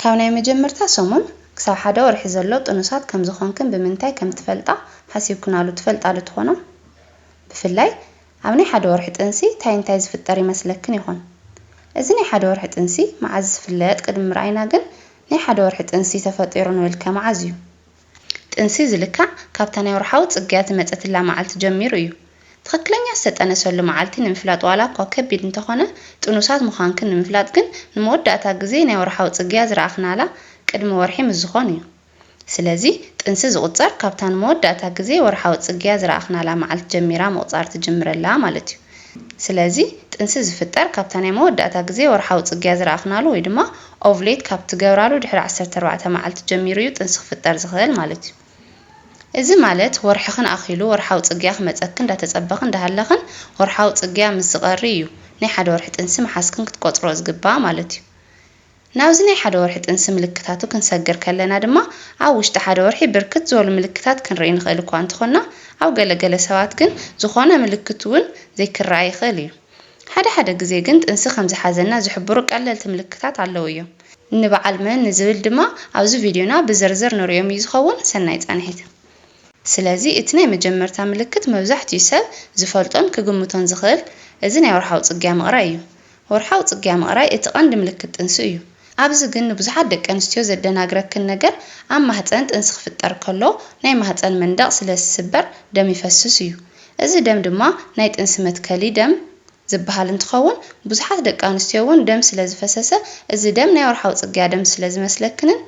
ካብ ናይ መጀመርታ ሰሙን ክሳብ ሓደ ወርሒ ዘሎ ጥኑሳት ከም ዝኾንክን ብምንታይ ከም ትፈልጣ ሓሲብክናሉ ትፈልጣ ዶ ትኾና? ብፍላይ ኣብ ናይ ሓደ ወርሒ ጥንሲ ታይ እንታይ ዝፍጠር ይመስለክን ይኾን? እዚ ናይ ሓደ ወርሒ ጥንሲ መዓዝ ዝፍለጥ ቅድሚ ምርኣይና ግን ናይ ሓደ ወርሒ ጥንሲ ተፈጢሩ ንብልከ መዓዝ እዩ? ጥንሲ ዝልካዕ ካብታ ናይ ወርሓዊ ጽግያት ዝመጸትላ መዓልቲ ጀሚሩ እዩ። ትኽክለኛ ዝተጠነሰሉ መዓልቲ ንምፍላጥ ዋላ እኳ ከቢድ እንተኾነ ጥኑሳት ምዃንክን ንምፍላጥ ግን ንመወዳእታ ግዜ ናይ ወርሓዊ ጽግያ ዝረኣኽናላ ቅድሚ ወርሒ ምስ ዝኾን እዩ። ስለዚ ጥንሲ ዝቑጸር ካብታ ንመወዳእታ ግዜ ወርሓዊ ጽግያ ዝረኣኽናላ መዓልቲ ጀሚራ ምቑጻር ትጅምረላ ማለት እዩ። ስለዚ ጥንሲ ዝፍጠር ካብታ ናይ መወዳእታ ግዜ ወርሓዊ ጽግያ ዝረኣኽናሉ ወይ ድማ ኦቭሌት ካብ ትገብራሉ ድሕሪ ዓሰርተ ኣርባዕተ መዓልቲ ጀሚሩ እዩ ጥንሲ ክፍጠር ዝኽእል ማለት እዩ። እዚ ማለት ወርሕኽን ኣኺሉ ወርሓዊ ጽግያ ክመጸኪ እንዳተጸበኺ እንዳሃለኽን ወርሓዊ ጽግያ ምስ ዝቐሪ እዩ ናይ ሓደ ወርሒ ጥንሲ ምሓዝክን ክትቆጽርኦ ዝግባኣ ማለት እዩ። ናብዚ ናይ ሓደ ወርሒ ጥንሲ ምልክታቱ ክንሰግር ከለና ድማ ኣብ ውሽጢ ሓደ ወርሒ ብርክት ዝበሉ ምልክታት ክንርኢ ንኽእል እኳ እንተኾንና ኣብ ገለ ገለ ሰባት ግን ዝኾነ ምልክት እውን ዘይክረኣ ይኽእል እዩ። ሓደ ሓደ ግዜ ግን ጥንሲ ከም ዝሓዘና ዝሕብሩ ቀለልቲ ምልክታት ኣለዉ እዮም። ንበዓል መን ንዝብል ድማ ኣብዚ ቪድዮና ብዝርዝር ንርእዮም እዩ ዝኸውን። ሰናይ ጻንሒት። ስለዚ እቲ ናይ መጀመርታ ምልክት መብዛሕትኡ ሰብ ዝፈልጦን ክግምቶን ዝኽእል እዚ ናይ ወርሓዊ ጽግያ ምቕራይ እዩ። ወርሓዊ ጽግያ ምቕራይ እቲ ቀንዲ ምልክት ጥንሲ እዩ። ኣብዚ ግን ንብዙሓት ደቂ ኣንስትዮ ዘደናግረክን ነገር ኣብ ማህጸን ጥንሲ ክፍጠር ከሎ ናይ ማህጸን መንደቕ ስለ ዝስበር ደም ይፈስስ እዩ። እዚ ደም ድማ ናይ ጥንሲ መትከሊ ደም ዝበሃል እንትኸውን ብዙሓት ደቂ ኣንስትዮ እውን ደም ስለ ዝፈሰሰ እዚ ደም ናይ ወርሓዊ ጽግያ ደም ስለ ዝመስለክንን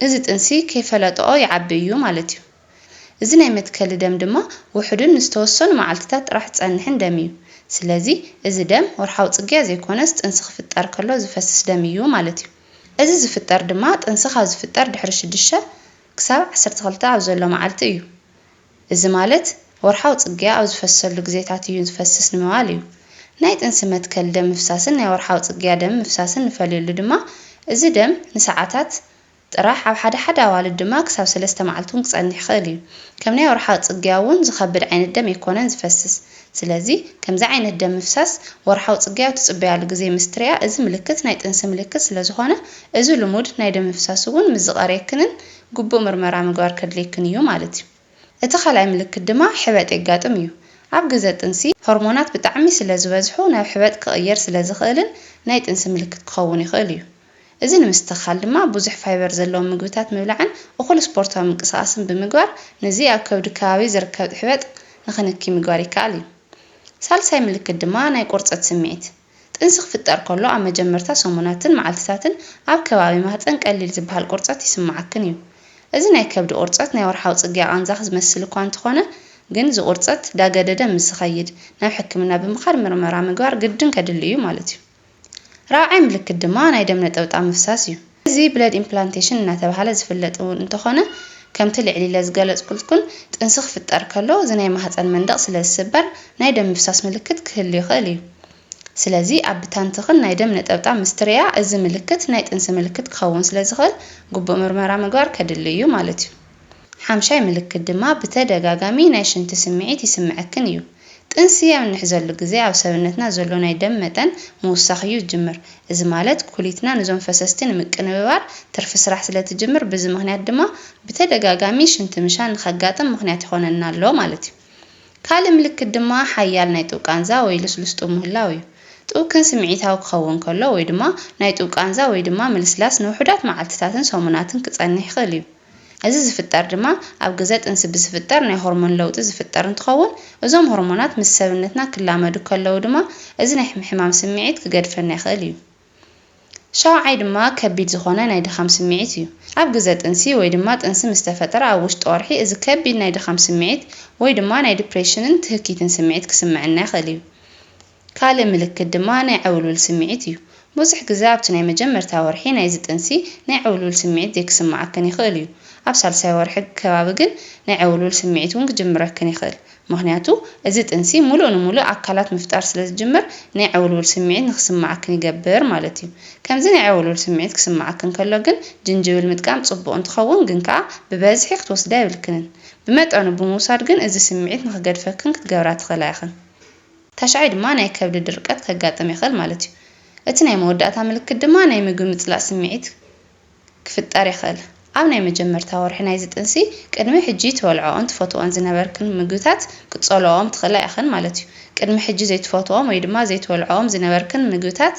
እዚ ጥንሲ ከይፈለጠኦ ይዓቢ እዩ ማለት እዩ። እዚ ናይ መትከሊ ደም ድማ ውሑድን ንዝተወሰኑ መዓልቲታት ጥራሕ ዝጸንሕን ደም እዩ። ስለዚ እዚ ደም ወርሓዊ ጽግያ ዘይኮነስ ጥንሲ ክፍጠር ከሎ ዝፈስስ ደም እዩ ማለት እዩ። እዚ ዝፍጠር ድማ ጥንሲ ካብ ዝፍጠር ድሕሪ ሽዱሽተ ክሳብ ዓሰርተ ክልተ ኣብ ዘሎ መዓልቲ እዩ። እዚ ማለት ወርሓዊ ጽግያ ኣብ ዝፈስሰሉ ግዜታት እዩ ዝፈስስ ንምባል እዩ። ናይ ጥንሲ መትከሊ ደም ምፍሳስን ናይ ወርሓዊ ጽግያ ደም ምፍሳስን ንፈልየሉ ድማ እዚ ደም ንሰዓታት ጥራሕ፣ ኣብ ሓደ ሓደ ኣዋልድ ድማ ክሳብ ሰለስተ መዓልቲ ውን ክጸንሕ ይኽእል እዩ። ከም ናይ ወርሓዊ ጽግያ ውን ዝኸብድ ዓይነት ደም ኣይኮነን ዝፈስስ። ስለዚ ከምዚ ዓይነት ደም ምፍሳስ ወርሓዊ ጽግያ ኣብ ትጽበያሉ ግዜ ምስ ትሪኣ እዚ ምልክት ናይ ጥንሲ ምልክት ስለ ዝኾነ እዚ ልሙድ ናይ ደም ምፍሳስ ውን ምስ ዝቐርየክንን ግቡእ ምርመራ ምግባር ከድልየክን እዩ ማለት እዩ። እቲ ካልኣይ ምልክት ድማ ሕበጥ የጋጥም እዩ። ኣብ ግዘ ጥንሲ ሆርሞናት ብጣዕሚ ስለ ዝበዝሑ ናብ ሕበጥ ክቕየር ስለ ዝኽእልን ናይ ጥንሲ ምልክት ክኸውን ይኽእል እዩ። እዚ ንምስትኽኻል ድማ ብዙሕ ፋይበር ዘለዎም ምግብታት ምብላዕን እኹል ስፖርታዊ ምንቅስቓስን ብምግባር ንዚ ኣብ ከብዲ ከባቢ ዝርከብ ሕበጥ ንኽንኪ ምግባር ይከኣል እዩ። ሳልሳይ ምልክት ድማ ናይ ቁርፀት ስምዒት ጥንሲ ክፍጠር ከሎ ኣብ መጀመርታ ሰሙናትን መዓልትታትን ኣብ ከባቢ ማህፀን ቀሊል ዝበሃል ቁርፀት ይስመዓክን እዩ። እዚ ናይ ከብዲ ቁርፀት ናይ ወርሓዊ ፅግያ ቓንዛኽ ዝመስል እኳ እንተኾነ ግን እዚ ቁርፀት ዳገደደ ምስ ዝኸይድ ናብ ሕክምና ብምኻድ ምርመራ ምግባር ግድን ከድሊ እዩ ማለት እዩ። ራብዓይ ምልክት ድማ ናይ ደም ነጠብጣብ ምፍሳስ እዩ። እዚ ብለድ ኢምፕላንቴሽን እናተብሃለ ዝፍለጥ እውን እንተኾነ ከምቲ ልዕል ኢለ ዝገለፅኩልትኩን ጥንሲ ክፍጠር ከሎ እዚ ናይ ማህፀን መንደቕ ስለዝስበር ናይ ደም ምፍሳስ ምልክት ክህሉ ይኽእል እዩ። ስለዚ ኣብ ብታንትኽን ናይ ደም ነጠብጣብ ምስትርያ እዚ ምልክት ናይ ጥንሲ ምልክት ክኸውን ስለዝኽእል ግቡእ ምርመራ ምግባር ከድሊ እዩ ማለት እዩ። ሓምሻይ ምልክት ድማ ብተደጋጋሚ ናይ ሽንቲ ስምዒት ይስምዐክን እዩ። ጥንሲ ኣብ እንሕዘሉ ግዜ ኣብ ሰብነትና ዘሎ ናይ ደም መጠን ምውሳኽ እዩ ዝጅምር። እዚ ማለት ኩሊትና ንዞም ፈሰስቲ ንምቅንብባር ትርፊ ስራሕ ስለ ትጅምር ብዚ ምክንያት ድማ ብተደጋጋሚ ሽንቲ ምሻን ንከጋጥም ምክንያት ይኾነና ኣሎ ማለት እዩ። ካልእ ምልክት ድማ ሓያል ናይ ጡብ ቃንዛ ወይ ልስሉስ ጡብ ምህላው እዩ። ጡብ ክን ስምዒታዊ ክኸውን ከሎ ወይ ድማ ናይ ጡብ ቃንዛ ወይ ድማ ምልስላስ ንውሑዳት መዓልትታትን ሰሙናትን ክጸንሕ ይኽእል እዩ። እዚ ዝፍጠር ድማ ኣብ ግዘ ጥንሲ ብዝፍጠር ናይ ሆርሞን ለውጢ ዝፍጠር እንትኸውን እዞም ሆርሞናት ምስ ሰብነትና ክላመዱ ከለው ድማ እዚ ናይ ሕማም ስምዒት ክገድፈና ይኽእል እዩ። ሻውዓይ ድማ ከቢድ ዝኾነ ናይ ድኻም ስምዒት እዩ። ኣብ ግዘ ጥንሲ ወይ ድማ ጥንሲ ምስ ተፈጠረ ኣብ ውሽጢ ወርሒ እዚ ከቢድ ናይ ድኻም ስምዒት ወይ ድማ ናይ ድፕሬሽንን ትህኪትን ስምዒት ክስመዐና ይኽእል እዩ። ካልእ ምልክት ድማ ናይ ዕውልውል ስምዒት እዩ። ብዙሕ ግዘ ኣብቲ ናይ መጀመርታ ወርሒ ናይዚ ጥንሲ ናይ ዕውልውል ስምዒት ዘይክስመዓክን ይኽእል እዩ። ኣብ ሳልሳይ ወርሒ ከባቢ ግን ናይ ዕውልውል ስምዒት እውን ክጅምረክን ይኽእል። ምኽንያቱ እዚ ጥንሲ ሙሉእ ንሙሉእ ኣካላት ምፍጣር ስለ ዝጅምር ናይ ዕውልውል ስምዒት ንክስመዓክን ይገብር ማለት እዩ። ከምዚ ናይ ዕውልውል ስምዒት ክስመዓክን ከሎ ግን ጅንጅብል ምጥቃም ፅቡቕ እንትኸውን ግን ከዓ ብበዝሒ ክትወስዳ የብልክንን። ብመጠኑ ብምውሳድ ግን እዚ ስምዒት ንክገድፈክን ክትገብራ ትኽእላ ኢኽን። ታሽዓይ ድማ ናይ ከብዲ ድርቀት ከጋጥም የኽእል ማለት እዩ። እቲ ናይ መወዳእታ ምልክት ድማ ናይ ምግቢ ምፅላእ ስምዒት ክፍጠር ይኽእል። ኣብ ናይ መጀመርታ ወርሒ ናይዚ ጥንሲ ቅድሚ ሕጂ ትበልዕኦን ትፈትዎኦን ዝነበርክን ምግብታት ክትጸልኦኦም ትኽእላ ኢኽን ማለት'ዩ። ቅድሚ ሕጂ ዘይትፈትዎኦም ወይ ድማ ዘይትበልዕኦም ዝነበርክን ምግብታት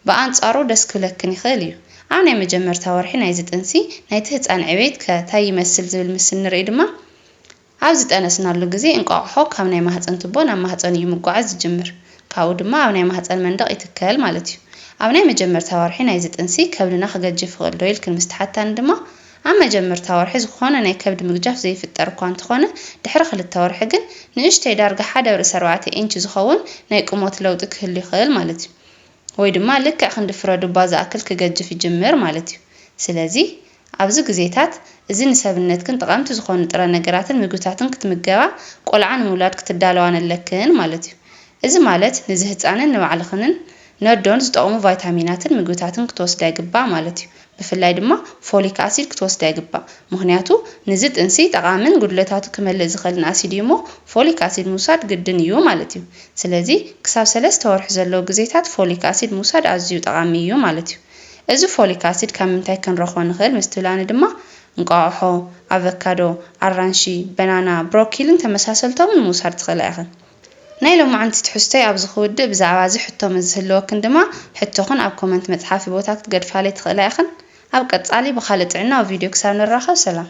ብኣንጻሩ ደስ ክብለክን ይኽእል እዩ። ኣብ ናይ መጀመርታ ወርሒ ናይዚ ጥንሲ ናይቲ ህጻን ዕቤት ከ ታይ ይመስል ዝብል ምስ እንርኢ ድማ ኣብ ዝጠነስናሉ ግዜ እንቋቑሖ ካብ ናይ ማህጸን ቱቦ ናብ ማህጸን እዩ ምጓዓዝ ዝጅምር። ካብኡ ድማ ኣብ ናይ ማህጸን መንደቕ ይትከል ማለት እዩ። ኣብ ናይ መጀመርታ ወርሒ ናይዚ ጥንሲ ከብድና ክገጅፍ ይኽእልዶ ኢልክን ምስ ትሓታኒ ድማ፣ ኣብ መጀመርታ ወርሒ ዝኾነ ናይ ከብዲ ምግጃፍ ዘይፍጠር እኳ እንተኾነ ድሕሪ ክልተ ወርሒ ግን ንእሽተይ ዳርጋ ሓደ ብ ርእሲ ኣርባዕተ ኢንች ዝኸውን ናይ ቁሞት ለውጢ ክህሉ ይኽእል ማለት እዩ። ወይ ድማ ልክዕ ክንዲ ፍረ ዱባ ዝኣክል ክገጅፍ ይጅምር ማለት እዩ። ስለዚ ኣብዚ ግዜታት እዚ ንሰብነትክን ጠቐምቲ ዝኾኑ ጥረ ነገራትን ምግብታትን ክትምገባ ቆልዓ ንምውላድ ክትዳለዋን ኣለክን ማለት እዩ። እዚ ማለት ንዚ ህጻንን ንባዕልኽንን ነዶን ዝጠቕሙ ቫይታሚናትን ምግብታትን ክትወስዳ ይግባእ ማለት እዩ። ብፍላይ ድማ ፎሊክ ኣሲድ ክትወስዳ ይግባእ ምኽንያቱ ንዚ ጥንሲ ጠቓምን ጉድለታቱ ክመልእ ዝኽእልን ኣሲድ እዩ እሞ ፎሊክ ኣሲድ ምውሳድ ግድን እዩ ማለት እዩ። ስለዚ ክሳብ ሰለስተ ወርሒ ዘለው ግዜታት ፎሊክ ኣሲድ ምውሳድ ኣዝዩ ጠቓሚ እዩ ማለት እዩ። እዚ ፎሊክ ኣሲድ ካብ ምንታይ ክንረኽቦ ንኽእል ምስ ትብላኒ ድማ እንቋቑሖ፣ ኣቨካዶ፣ ኣራንሺ፣ በናና፣ ብሮኪልን ተመሳሰልቶምን ምውሳድ ትኽእላ ኢኽን። ናይ ሎማዕንቲ ትሕዝቶይ ኣብዚ ክውድእ ብዛዕባ እዚ ሕቶ ምስ ዝህልወክን ድማ ሕቶኽን ኣብ ኮመንት መጽሓፊ ቦታ ክትገድፋለይ ትኽእላ ኢኽን። ኣብ ቀጻሊ ብኻልእ ጥዕናዊ ቪድዮ ክሳብ ንራኸብ ሰላም።